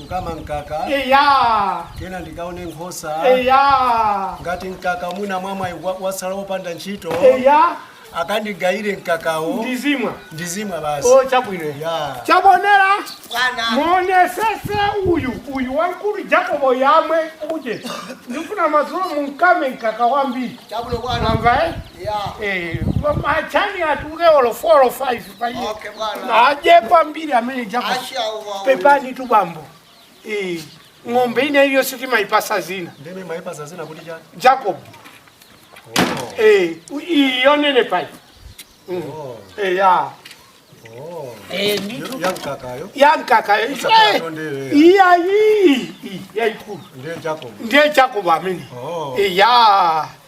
kukama mkaka eya kena ndikaone nkhosa eya ngati mkaka mwina mwamwayi wa- wasala wopanda ntchito eya akandigayire mkakawo ndizimwa ndizimwa basi o chabwino ya chabonera Bwana. muonesese uyu uyu wankulu jakobo yamwe uje ndifuna madzulo munkame mkaka wambiri Chabulo bwana. mwamva eh? ya Eh, machani atuke olo 4 or 5 ajepa mbili ameneja pepani tu bambo Eh, ng'ombe ina iyo sitimaipasa zina nde mwaipasa zina kuti chani jakobo Eh, iyonene pai Mm. Eh, ya Eh, ndithu yankakayo yankaka eh, Usakatondere. iya iyi yaikulu ndiye jakobo ndiye jakobo amene Oh. iya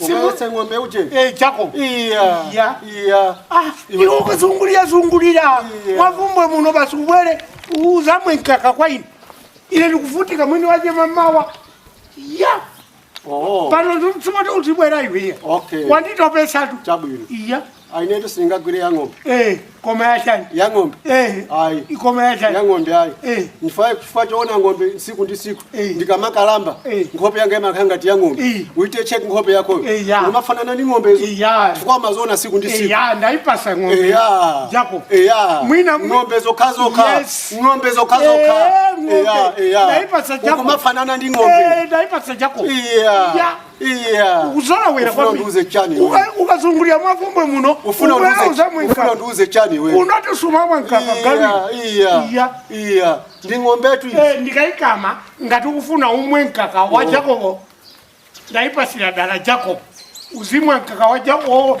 Ukawetse ng'ombe uje. Eh, Jakobo. Iya. Iya. Iya. Ah, Iwe- iwe ukazungulira zungulira Iya. mwavumbwe muno basi ubwere uzamwe mkaka kwa ine ine ndikuvutika mwini waje mamawa ya Oh. pano ndimtsumati uzibwera iwiye Okay. wanditopesatu Chabwino. iya A inetu singagwire ya ng'ombe. Eh, koma ya chani? Ya ng'ombe. Eh. Ayi. Koma ya chani? Ya ng'ombe ayi. Eh. Nifika choona ng'ombe siku ndi siku. Eh. Ndikamakalamba. Eh. Nkhope yanga imakhala ngati ya ng'ombe. Eh. Uite check nkhope yako. Eh, ya. Umafanana ndi ng'ombe izo. Eh, ya. Chifukwa umaziona siku ndi siku. Eh, ya, ndaipasa ng'ombe. Eh, ya. Jakobo. Eh, ya. Mwina ng'ombe zokha zokha. Yes. Ng'ombe zokha zokha. Eh, ng'ombe. Eh, ya. Eh, ya. Ndaipasa Jakobo. Ukumafanana ndi ng'ombe. Eh, ndaipasa Jakobo. Eh, ya. Ya. iya uzolowera Ufuna undiuze chani iwe? ukazungulira mwakumbwe muno ufuna ubwera undiuze- ufuna uzamwenkaka undiuze chani iwe unoti sumamwenkaka iya gawi iya Iya. iya ndi ng'ombetu iyi. Eh, ndikayikama ngati ukufuna umwe mkaka wa jakobo ndayipasira dala jakobo uzimwa mkaka wa jakobo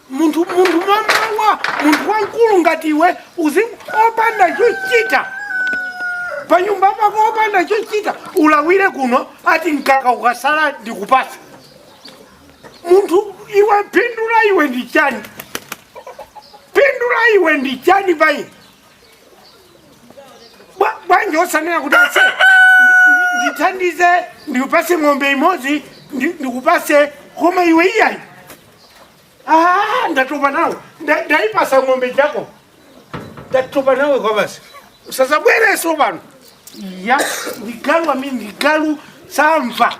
munthu munthu mamawa munthu wamkulu ngati iwe uzi opanda chochita panyumba pako opanda chochita ulawire kuno ati mkaka ukasala ndikupasa munthu iwe phindu la iwe ndi chani phindu la iwe ndi chani payi Bwa- bwanji osanena kuti ase ndi- ndithandize ndikupase ng'ombe imodzi ndi- ndikupase koma iwe iyayi Ah, ndatopa nawe Nda- ndaipasa ng'ombe jakobo ndatopa nawe kwa basi usazabwereso pano ya ndigalu amene ndigalu samva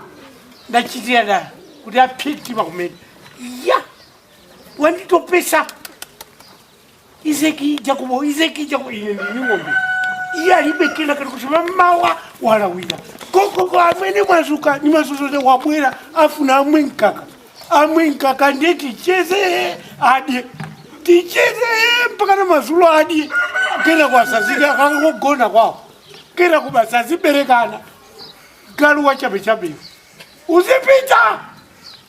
ndachitira dala kuti apite pakumene ya wanditopesa izeki jakobo izeki jakobo ine ndi ng'ombe iye alibe kena kalikonse mamawa walawira kokoko amene mwazuka ni mazozole wabwera afuna amwe mkaka amwe mkaka ndiye ticheze adye ticheze mpaka na mazulo adye kena kutsazika akangogona kwawo kena kuba saziberekana galu wachabechabeyo uzipita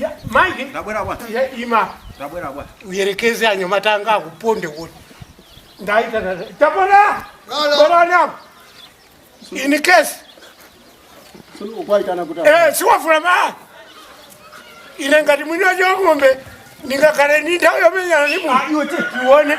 Ya, Mike, Ndabwera bwana. ya, ima Ndabwera bwana. uyerekeze anyamata anga akuponde kuti ndaitana tapona bonana in case Ukwaitana kuti eh siwafuna ma ine ngati mwini wacho ng'ombe ndingakhale ndi nthawi yomenyana ndi munthu iwe tione